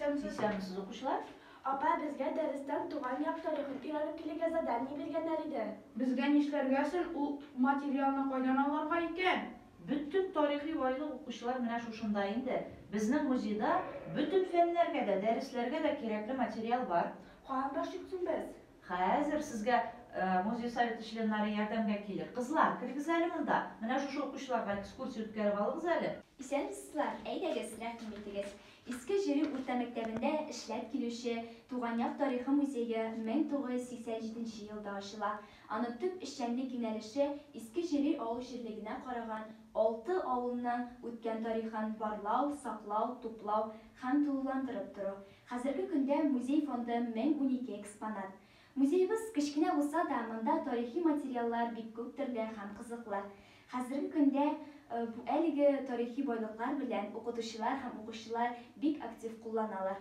Исәнмесез, укучылар. Апа, безгә дәрестән туган як тарихын өйрәнеп килергә задание биргәннәр иде. Безгә нишләргә соң ул материалны кайдан алырга икән? Бөтен тарихи байлык укучылар менә шушында инде. Безнең музейда бөтен фәннәргә дә, дәресләргә дә кирәкле материал бар. Каян башлыйк соң без? Хәзер сезгә музей советы членнары ярдәмгә килер. Кызлар, керегез әле монда. Менә шушы укучыларга экскурсия үткәреп алыгыз әле. Исәнмесезләр, әйдәгез, рәхим итегез. Иске Җөри урта мәктәбендә эшләп килүче Туган як тарихы музее 1987 нче елда ачыла. Аның төп эшчәнлек юнәлеше Иске Җөри авыл җирлегенә караган алты авылның үткән тарихын барлау, саклау, туплау һәм тулыландырып тору. Хәзерге көндә музей фонды 1012 экспонат. Музеебыз кечкенә булса да, монда тарихи материаллар бик күп төрле һәм кызыклы. Хәзерге көндә бу әлеге тарихи байлыклар белән укытучылар һәм укучылар бик актив кулланалар.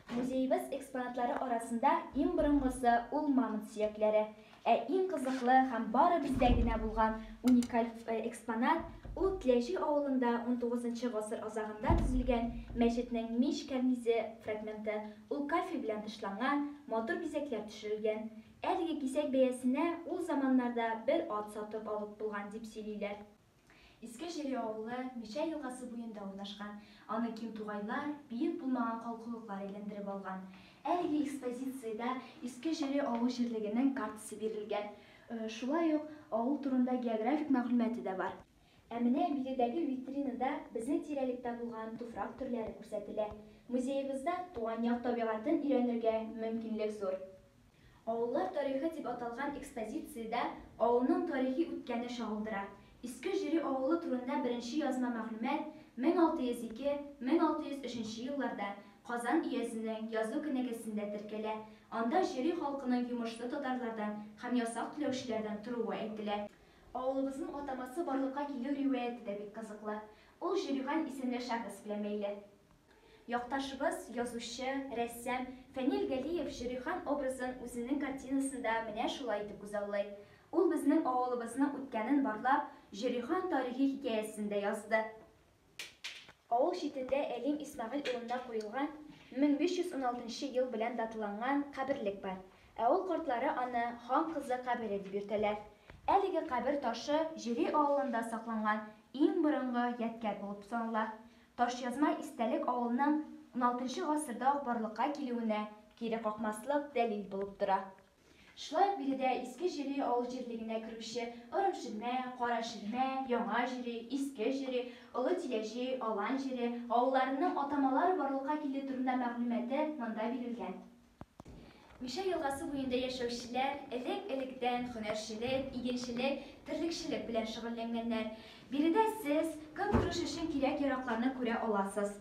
Музеебыз экспонатлары арасында иң борынгысы ул мамонт сөякләре. Ә иң кызыклы һәм бары бездә генә булган уникаль экспонат, ул Тләҗи авылында унтугызынчы гасыр азагында төзелгән мәчетнең мич кәрнизе фрагменты, ул кафель белән тышланган, матур бизәкләр төшерелгән. Әлеге кисәк бәясенә ул заманнарда бер ат сатып алып булган дип сөйлиләр. Иске Җире авылы Мишә елгасы буенда урнашкан, аны киң тугайлар, биек булмаган калкулыклар әйләндереп алган. Әлеге экспозициядә Иске Җире авыл җирлегенең картасы бирелгән. Шулай ук авыл турында географик мәгълүматы да бар. Ә менә биредәге витринада безнең тирәлектә булган туфрак төрләре күрсәтелә. Музеебызда туган як табигатен өйрәнергә мөмкинлек зур. Авыллар тарихы дип аталган экспозициядә авылның тарихи үткәне чагылдыра. Иске Җөри авылы турында беренче язма мәгълүмат 1602, 1603 елларда Казан өязенең язу кенәгәсендә теркәлә, анда Җөри халкының йомышлы татарлардан һәм ясак түләүчеләрдән торуы әйтелә. Авылыбызның атамасы барлыкка килү риваяте дә бик кызыклы. Ул Җөрихан исемле шәхес белән бәйле. Якташыбыз, язучы, рәссам Фәнил Галиев Җөрихан образын үзенең картинасында менә шулай итеп күзаллый. Ул безнең авылыбызның үткәнен барлап, Җөрихан тарихи хикәясен дә язды. Авыл читендә Әлим Исмәгыйль улына куелган 1516 нчы ел белән даталанган каберлек бар. Авыл картлары аны Хан кызы кабере дип йөртәләр. Әлеге кабер ташы Җөри авылында сакланган иң борынгы ядкяр булып санала. Ташъязма истәлек авылның уналтынчы гасырда ук барлыкка килүенә кире какмаслык дәлил булып тора. Шулай ук биредә Иске Җөри авыл җирлегенә керүче Орым Ширмә, Кара Ширмә, Яңа Җөри, Иске Җөри, Олы Тиләҗи, Алан Җире авылларының атамалары барлыкка килү турында мәгълүматы монда бирелгән. Мишә елгасы буенда яшәүчеләр элек-электән һөнәрчелек, игенчелек, терлекчелек белән шөгыльләнгәннәр. Биредә сез көнкүреш өчен кирәк-яракларны күрә аласыз.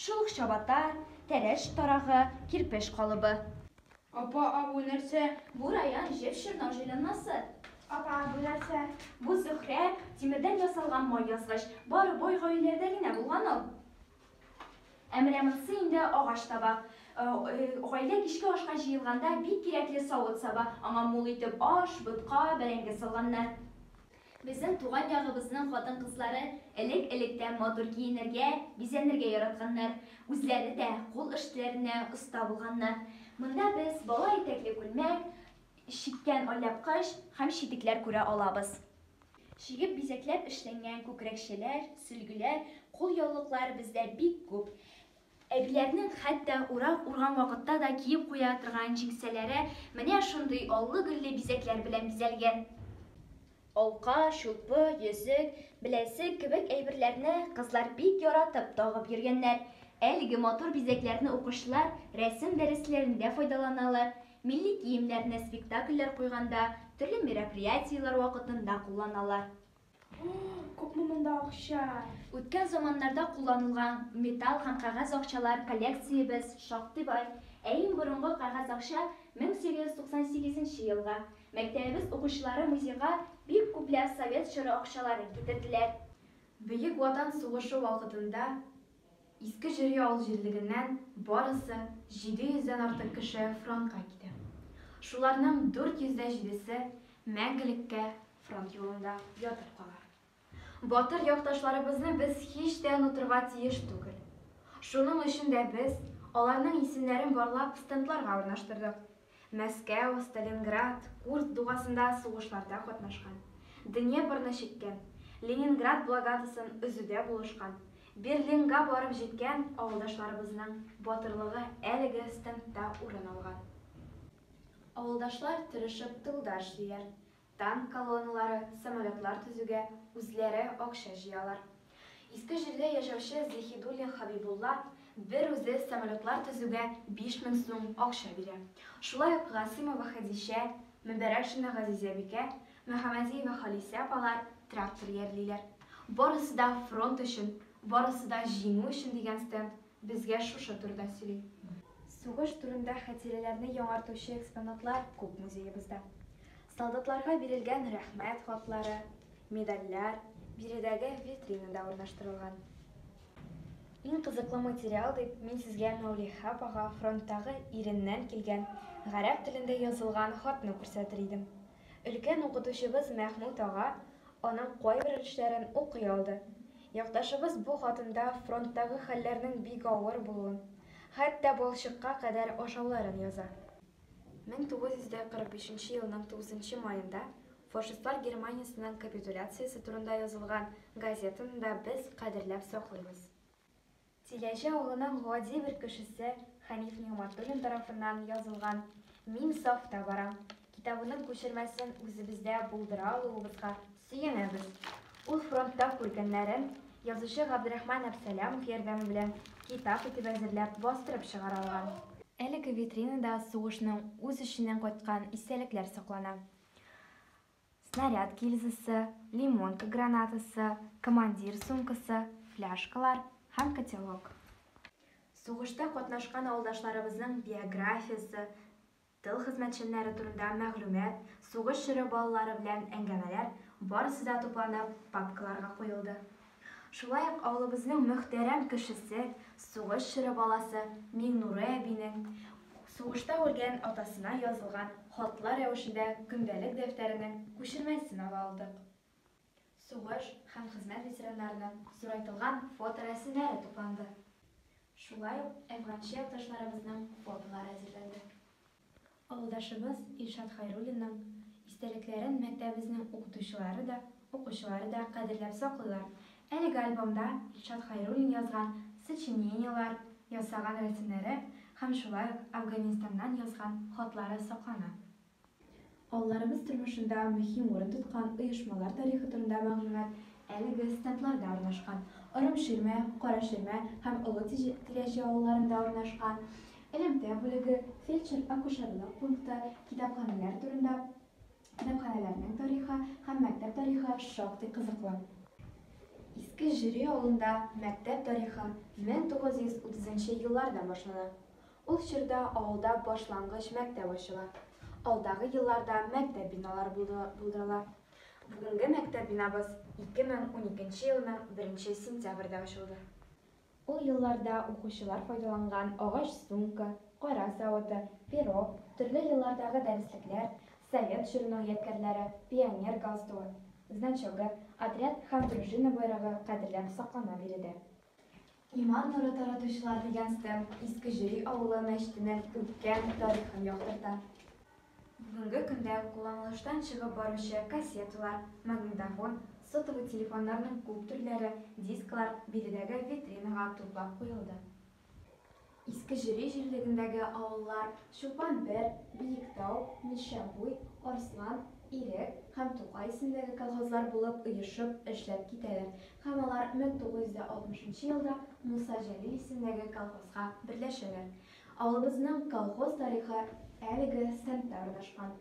Шул ук чабата, тәрәш тарагы, кирпеч калыбы. Апа, а бу нәрсә? Бу раян җеп чорнау җайланмасы. Апа, а бу нәрсә? Бу Зөһрә, тимердән ясалган май язгыч. Бары бай гаиләләрдә генә булган ул. Ә менә монысы инде агач табак. Гаилә кичке ашка җыелганда бик кирәкле савыт-саба. Аңа мул итеп аш, ботка, бәрәңге салганнар. Безнең туган ягыбызның хатын-кызлары элек-электән матур киенергә, бизәнергә яратканнар. Үзләре дә кул эшләренә оста булганнар. Монда без бала итәкле күлмәк, чиккән алъяпкыч һәм читекләр күрә алабыз. Чигеп бизәкләп эшләнгән күкрәкчәләр, сөлгеләр, кулъяулыклар бездә бик күп. Әбиләрнең хәтта урак урган вакытта да киеп куя торган җиңсәләре менә шундый аллы-гөлле бизәкләр белән бизәлгән. Алка, чулпы, йөзек, беләзек кебек әйберләрне кызлар бик яратып тагып йөргәннәр. Әлеге матур бизәкләрне укучылар рәсем дәресләрендә файдаланалар, Милли киемнәрне спектакльләр куйганда, төрле мероприятиеләр вакытында кулланалар. Ох, күпме монда акча! Үткән заманнарда кулланылган металл һәм кәгазь акчалар коллекциябез шактый бай. Ә иң борынгы кәгазь акча 1898 нче елгы. Мәктәбебез укучылары музейга бик күпләп совет чоры акчаларын китерделәр. Бөек Ватан сугышы вакытында Иске Җөри авыл җирлегеннән барысы 700 дән артык кеше фронтка китә. Шуларның 400 дә җидесе мәңгелеккә фронт юлында ятып кала. Батыр якташларыбызны без һич тә онытырга тиеш түгел. Шуның өчен дә без аларның исемнәрен барлап стендларга урнаштырдык. Мәскәү, Сталинград, Курск дугасында сугышларда катнашкан, Днепрны чиккән, Ленинград блокадасын өзүдә булышкан, Берлинга барып җиткән авылдашларыбызның батырлыгы әлеге стендта урын алган. Авылдашлар тырышып тылда эшлиләр, Танк колонналары, самолетлар төзүгә үзләре акча җыялар. Иске Җирле яшәүче Зиһидуллин Хәбибулла бер үзе самолетлар төзүгә 5000 сум акча бирә. Шулай ук Гасыймова Хәдичә, Мөбәрәкшина Газизәбикә, Мөхәммәдиева Халисә апалар трактор иярлиләр. Барысы да фронт өчен, барысы да җиңү өчен дигән стенд Безгә шушы турыда сөйли. Сугыш турында хәтирәләрне яңартучы экспонатлар күп музеебызда. Солдатларга бирелгән Рәхмәт хатлары, медальләр биредәге витринада урнаштырылган. Иң кызыклы материал дип мин сезгә Мәүлиха апага фронттагы иреннән килгән гарәп телендә язылган хатны күрсәтер идем. Өлкән укытучыбыз Мәхмүт ага аның кайбер эшләрен укый алды. Якташыбыз бу хатында фронттагы хәлләрнең бик авыр булуын, хәтта балчыкка кадәр ашауларын яза. 1945 нче елның 9 нчы маенда фашистлар Германиясенең капитуляциясе турында язылган газетаны да без кадерләп саклыйбыз. Тиләҗе авылының гади бер кешесе Хәниф Нигъмәтуллин тарафыннан язылган Мин сафта барам китабының күчермәсен үзебездә булдыра алуыбызга сөенәбез. Ул фронтта күргәннәрен язучы Габдрахман Әпсәләмов ярдәме белән китап итеп әзерләп бастырып чыгара алган. Әлеге витринада сугышның үз эченнән кайткан истәлекләр саклана. снаряд гильзасы, лимонка гранатасы, командир сумкасы, фляшкалар һәм котелок. Сугышта катнашкан авылдашларыбызның биографиясе, тыл хезмәтчәннәре турында мәгълүмат, сугыш чоры балалары белән әңгәмәләр, барысы да тупланып, папкаларга куелды. Шулай ук авылыбызның мөхтәрәм кешесе, сугыш чоры баласы Миңнурый әбинең сугышта үлгән атасына язылган хатлар рәвешендә көндәлек дәфтәренең күчермәсен ала алдык. Сугыш һәм хезмәт ветераннарының зурайтылган фоторәсемнәре тупланды. Шулай ук әфганчы якташларыбызның фотолары әзерләнде. Авылдашыбыз Илшат Хайруллинның истәлекләрен мәктәбебезнең укытучылары да, укучылары да кадерләп саклыйлар. Әлеге альбомда Илшат Хайруллин язган сочинениеләр, ясаган рәсемнәре һәм шулай ук Әфганстаннан язган хатлары саклана. Авылларыбыз тормышында мөһим урын тоткан оешмалар тарихы турында мәгълүмат әлеге стендларда урнашкан. Орым Ширмә, Кара Ширмә һәм Олы Тирәҗе авылларында урнашкан элемтә бүлеге, фельдшер-акушерлык пункты, китапханәләр турында Китапханәләрнең тарихы һәм мәктәп тарихы шактый кызыклы. Иске Җөри авылында мәктәп тарихы 1930 нчы елларда башлана. Ул чорда авылда башлангыч мәктәп ачыла. Алдагы елларда мәктәп биналары булдырыла. Бүгенге мәктәп бинабыз 2012 елның 1 сентябрьдә ачылды. Ул елларда укучылар файдаланган агач сумка, кара савыты, перо, төрле еллардагы дәреслекләр, Совет чорының ядкәрләре, пионер галстугы, значогы, отряд һәм дружина байрагы кадерләп саклана биредә. Иман нуры таратучылар дигән стенд Иске Җөри авылы мәчетенең үткән тарихын яктырта. Бүгенге көндә кулланылыштан чыгып баручы кассеталар, магнитофон, сотовый телефоннарның күп төрләре, дисклар биредәге витринага туплап куелды. Иске Җөри җирлегендәге авыллар Чулпан бер, Биектау, Мишәбуй, Арслан, Ирек һәм Тукай исемендәге колхозлар булып оешып эшләп китәләр һәм алар 1960 нчы елда Муса Җәлил исемендәге колхозга берләшәләр. Авылыбызның колхоз тарихы әлеге стендта урнашкан.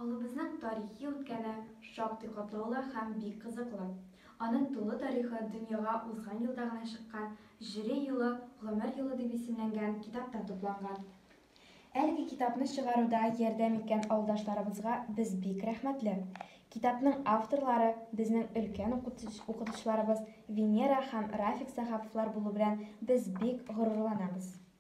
Авылыбызның тарихи үткәне шактый катлаулы һәм бик кызыклы. Аның тулы тарихы дөньяга узган елда гына чыккан Җире юлы, гомер юлы дип исемләнгән китапта тупланган. Әлеге китапны чыгаруда ярдәм иткән авылдашларыбызга без бик рәхмәтле. Китапның авторлары, безнең өлкән укытучыларыбыз Венера һәм Рафик Сәхаповлар булу белән без бик горурланабыз.